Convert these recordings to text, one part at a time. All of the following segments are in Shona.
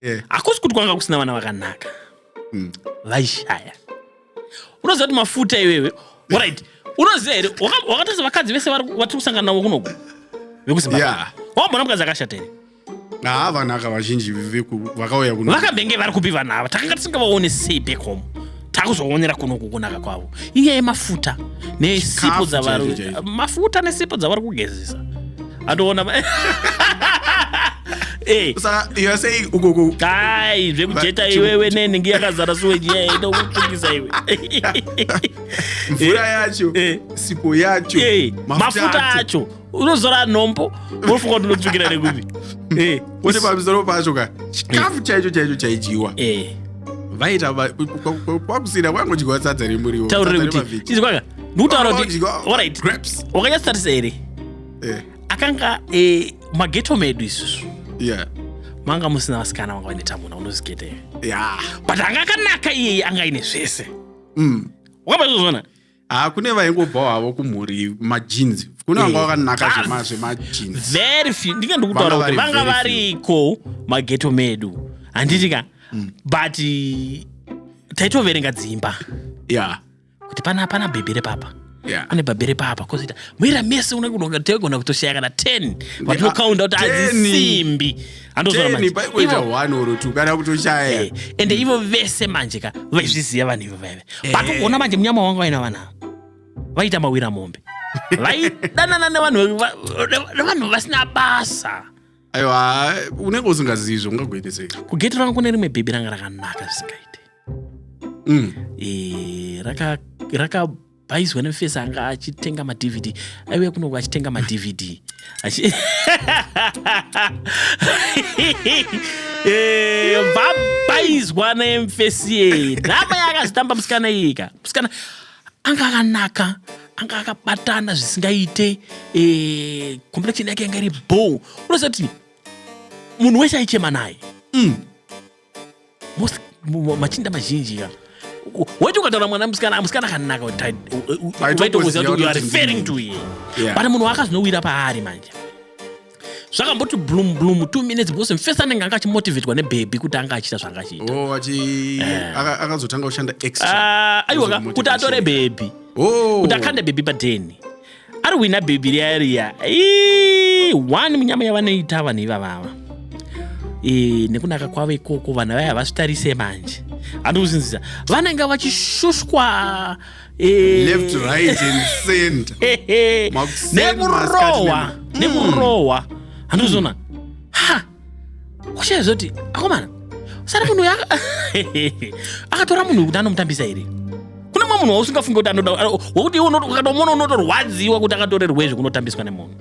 yeah. hakusi kuti kwanga kusina vana vakanaka mm. vaishaya unoziva kuti mafuta iwewe orit unoziva here wakatoza vakadzi vese vatiri kusangana navo kunoku vekuzimbabwe wambona mukadzi akashata here haa vanaka vazhinji vakauya kuno vakambenge vari kupi vanhu ava takanga tisingavaone sei back home takuzoonera kuno kukunaka kwavo inyaya yemafuta nesipo dzavari mafuta nesipo dzavari kugezesa atoona eh. ai zvekujeta iwewe nenhingi yakazara suwejiyaedokutukisa iwe mvura yacho eh. sipo yacho eh. mafuta acho unozora nhombo unofunga kuti unotsvukira nekupi Eh, kuti pamusoro pacho ka chikafu chaicho chaicho chaidyiwa eh. vaita va- ku- ku- ku- kwakusina kwangodyiwa sadza remuriwo taurire sadza kuti remavheji. izi kwanga ndikutaura kuti Vanodyiwa alright grapes. wakanyatsotarisa here Eh, akanga eh, mageto medu isusu yeah. manga musina vasikana vanga vane tamuna unozigeta here Yeah. but anga akanaka iyeye anga aine zvese Mm. wakabazozvona haa ah, kune vaingobvawo havo kumhuri majeans kune vanga eh, vakanaka zvemajeans very few ndinge ndikutaura kuti vanga variko mageto medu handiti ka mm. but taitoverenga dzimba ya kuti pana pana bhebhere papa pane bhabhere papa kozoita muira mese unogona kutoshaya kana 10 vatinokaunda kuti adzisimbi handozvaamanje paikuita one or two kana kutoshaya eh, ende ivo vese manje ka vaizviziva vanhu ivo vaive eh. but ugoona manje munyama wanga vaina vanhu ava vaita mawira mombe vaidanana nevanhu nevanhu vasina basa aiwa unenge usingazivi zvaungagoite sei kugeti ranga kune rimwe bhebhi ranga rakanaka zvisingaite mm. eh, raka bais when face anga achitenga madvd aiuya kunoku achitenga madvd vabaizwa nemfesi yeye drama yaakazitamba musikana iyika musikana anga akanaka anga akabatana zvisingaite eh, complection yake yanga iri bow unoziva kuti munhu wese aichema naye mm. machinda mazhinji ka waiti ukataura mwana musikana musikana akanaka vaitokuziva kuti uare fairing to ye but munhu waakazvinowira paari manje zvakamboti blum blum two minutes because mfesi anenge anga achimotivetwa nebhebhi kuti anga achiita zvanga achiitaakazotanga oh, kushanda extra ah, aiwa kuti atore bhebhi oh. kuti akande bhebhi padheni ari wina bhebhi riya riya one munyama yavanoita vanhu ivavava e, nekunaka kwavo ikoko vanhu vaya havasvitarise manje handi kuzinzisa vanenge vachishushwa e, nekurohwa nekurohwa handi kuzona kushaya zoti akomana sara munhu uya akatora munhu wekuti anomutambisa here kune mwe munhu wausingafunge kuti anoda wekuti iwe ukatomuona unotorwadziwa kuti akatorerwei zvekunotambiswa nemunhu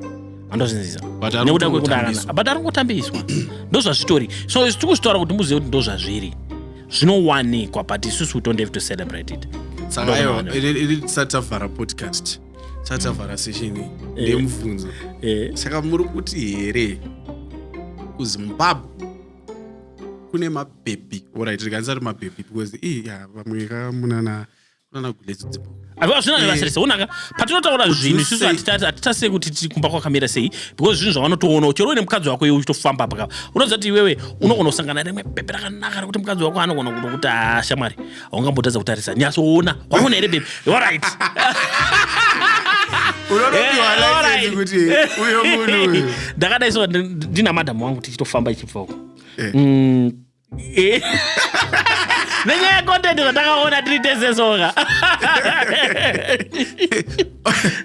andozvinzisa nekuda kwekudarana but ari kutambiswa ndozvazvitori so isu tiri kuzvitaura kuti muzive kuti ndozvazviri zvinowanikwa but isusu we don't have to celebrate it saka ayo iri tisati tavhara podcast sati tavhara sesheni eh. ndemubvunzo eh. saka muri kuti here kuzimbabwe kune mabhebhi orit tikanisa kuti mabhebhi because i ya vamwe ka munana munana guledzo dzimbo hazvina zvevasirisa eh. onaka patinotaura zvinhu isusu hatitarisire kuti tiri kumba kwakamira sei because zvinhu zvavanotoonawo chero uine mukadzi wako iwe uchitofamba pakava unoziva kuti iwewe unogona kusangana rimwe bhebhi rakanaka rekuti mukadzi wako anogona kutokuti hashamwari haungambotadza kutarisa nyatsoona waona here bebi orit ndakadai so ndina madam wangu tichitofamba ichibvoko eh. mm, eh. nenyaya yecontent zvatakaona tiri tese soka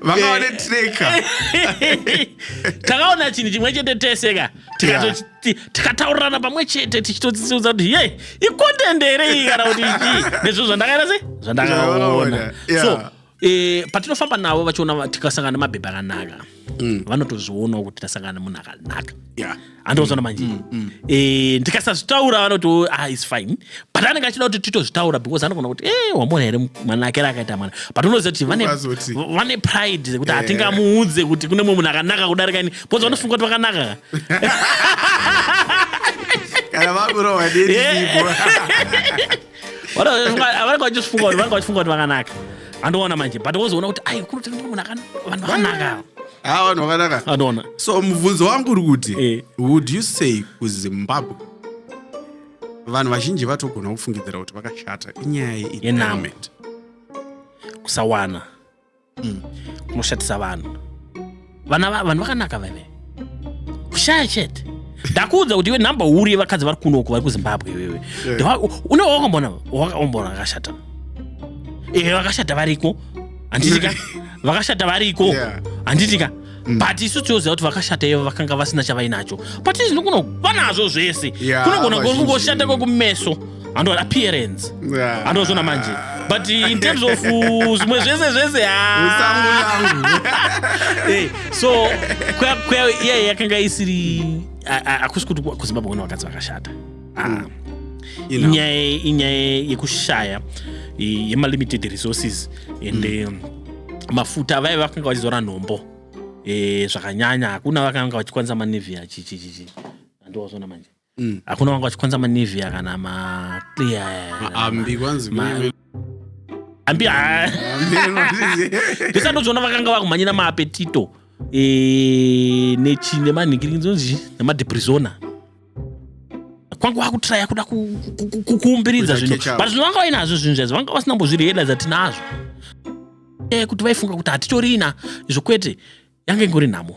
vakaone treka takaona chinhu chimwe chete tese ka tikataurirana pamwe chete tichitotsiudza kuti ye ikondende here iyi kana kuti chii nezviro zvandakaita sei zvandakaona so eh, patinofamba navo vachiona tikasangana nemabhebha akanaka mm. vanotozvionawo kuti tasangana nemunhu akanaka andiozona mm, manje mm, eh, ndikasazvitaura vanoti oh, ah, is fine but anenge achida kuti titozvitaura because anogona kuti e eh, wamona here mwana akera akaita mwana but unoziva kuti vane pride zekuti eh. hatingamuudze kuti kune mumwe munhu akanaka kudarika ini bcause vanofunga kuti vakanaka kana vakurohwa neiipo vanenge vachifunga kuti vanenge vachifunga kuti vakanaka andoona manje but wozoona kuti ai kunotengwa munhu vanhu vakanaka ha vanhu vakanaka anoona so mubvunzo wangu uri kuti eh. would you say kuzimbabwe vanhu vazhinji vatogona kufungidzira kuti vakashata inyaya yename kusawana mm. kunoshatisa vanhu vana vanhu vakanaka veve kushaya chete ndakuudza kuti iwe number huru yevakadzi vari kuno uko vari kuzimbabwe iwewe une wakaombona wakaombona vakashata ehe vakashata variko handitika vakashata variko handitika Mm. but isu tinoziva kuti vakashata ivo vakanga vasina chavainacho but izvino kuno vanazvo zvese yeah, kunogona kungoshata kwekumeso hando appearance yeah. hando zvona manje but in terms of uh, zvimwe zvese zvese eh, so kwea kwea iye yakanga isiri akusi kuti kuzimbabwe kune vakadzi vakashata ah, you know. inyaya inyaya yekushaya eh, yemalimited resources and eh, mafuta vaive vakanga vachizora nhombo eh, zvakanyanya hakuna vakanga vachikwanisa manevia chichichichi andiwazvona manje Mm. hakuna vanga vachikwanisa manevia kana maclear ambi kwanzi Ma- kune- ambi ah, ambi anoti- pesa ndozvona vakanga vakumhanyira maapetito eh, nechi nemanhingirinzi nemadepresona kwanga wakutiraya kuda kuumbiridza zvinhu but zvinhu vanga vainazvo zvinhu zvazi vanga vasina mbozvireda dzatinazvo kuti vaifunga kuti hatitorina izvo kwete yanga ingori nhamo